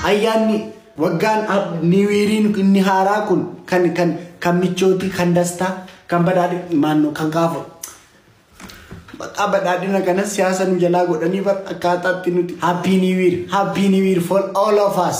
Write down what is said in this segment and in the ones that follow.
ayyaanni waggaan niwiiriin inni haaraa kun kan kan kan michootii kan dastaa kan badhaadhi maannoo kan gaafa maqaa badhaadhina kanas siyaasa nu jalaa godhanii bar akkaataatti nuti happy new year happy new year for all of us.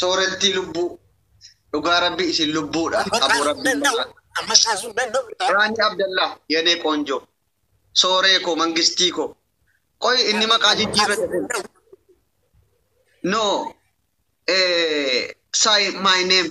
Soorettii lubbuu. Dhugaa rabbi isin lubbuudha. Aboo rabbiin maraa. Raanii Abdallaa yanee qoonjoo. Sooree koo mangistii koo. Qoy inni maqaa jijjiirrate kun. No. Eh, say my name.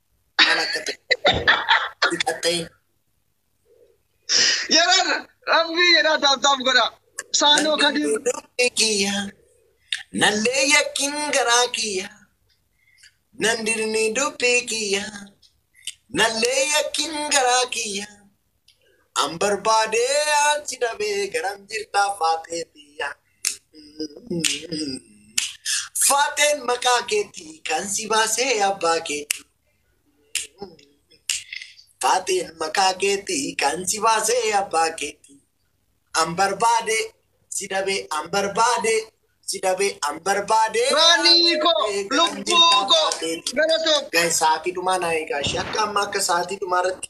Maal akka ta'e. Dhiqattee. Yeroo rabbii jedhaa taaptaaf godha. Saanoo kadii. Nandee kiyya. Nandee yakkin garaa kiyya. Nandirni dubbii kiyya. Nandee yakkin garaa kiyya. An barbaadee an si dhabee garam jirtaa faatee tiyya. Faateen maqaa keetii kan si baasee abbaa keetii. Faateen maqaa keetii kan si baasee abbaa keetii. An barbaadee si dhabee an barbaadee si dhabee an barbaadee. Raanii koo, lubbuu koo, galatoomi. Guys, sa'aatii dhumaa naa eegaa ishee akka amma akka sa'aatii dhumaa irratti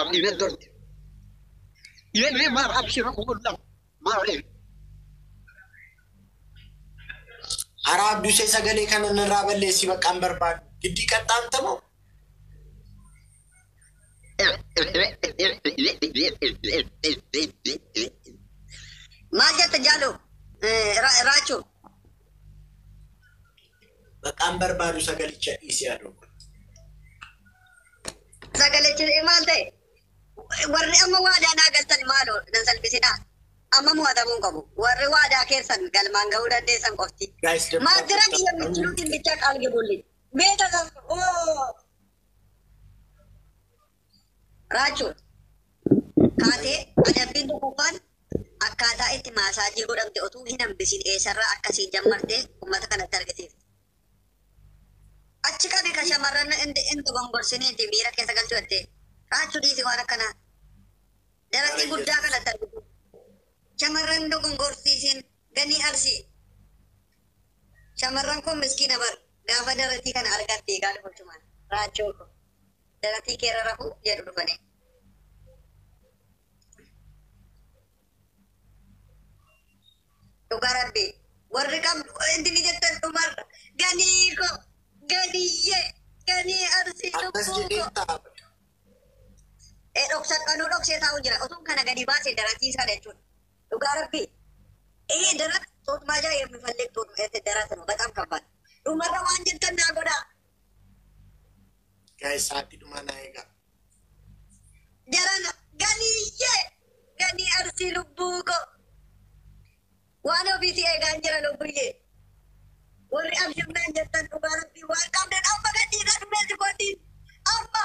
Abdii natti horte. Yennee maal abshira kukullaa maal ree. Haraa abduu ishee sagalee kana narraa balleessii baqqaan barbaadu. Giddii qaxxaamta moo? Maal jetta jaaloo? Raachoo. Maqaan barbaadu sagalicha dhiisi adoo. Sagalichi maal ta'e? Warri amma waadaa naa galtan maaloo nan salphisinaa. Amma mo'atamuu hin qabu. Warri waadaa keessan galmaan ga'uu dandeessan qofti. Guys, the Maastira prophet- kiyya michuutiin bicha qaal gibulli. Beeta sas oo Raachuun kaatee adabbiin tokkoffaan akkaataa itti maasaajii godhamte otuu hin hambisiin eessarraa akka siin jammarte uummata kanatti argisiifte. Achi qabi ka shamarran indi indi gongorsiniiti miira keessa galchuu jettee. Raachuu dhiisi waan akkanaa. Daraqii guddaa kanatti argisiifte. Shamarran dogongorsiisiin ganii arsii. Shamarran kun miskiina bar gaafa daraqii kana argatte egaa dubartumaan raachuu kun. Daratii keerra rafuu jedhu dhufanii. Dhugaa rabbii warri qabdu wanti ni jettan dhumarra ganii koo ganiyyee ganii arsii Akkas lubbuu koo. jedhee ta'a. E dhoksa kanuu dhoksee taa'u jira. Otuun kana gadi baasee daratii isaa jechuudha. Dhugaa rabbii. Ee darat tuutmaa jaa yemmuu fallee tuutmaa darat nu baxam kabbaad. Dhumarra waan jettan naa godhaa. Guys sa'aatii dhumaa naa eegaa. Jarana ganiyyee ganii arsii lubbuu koo waan ofiitii eegaan jira lubbuyyee warri abshirnaan jettan dhugaa rabbii waan qabdan amma gadhiidha dhumee sifoontiin amma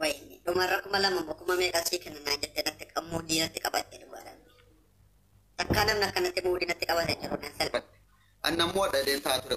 wayni dhumarra kuma lama mo kuma meeqa sii kenna naan jette natti qammuu diinatti qabatte dhugaa rabbi takkaa namni akkanatti muudii natti qabate jiru nan salpha Anna immoo dhaleen taa ture.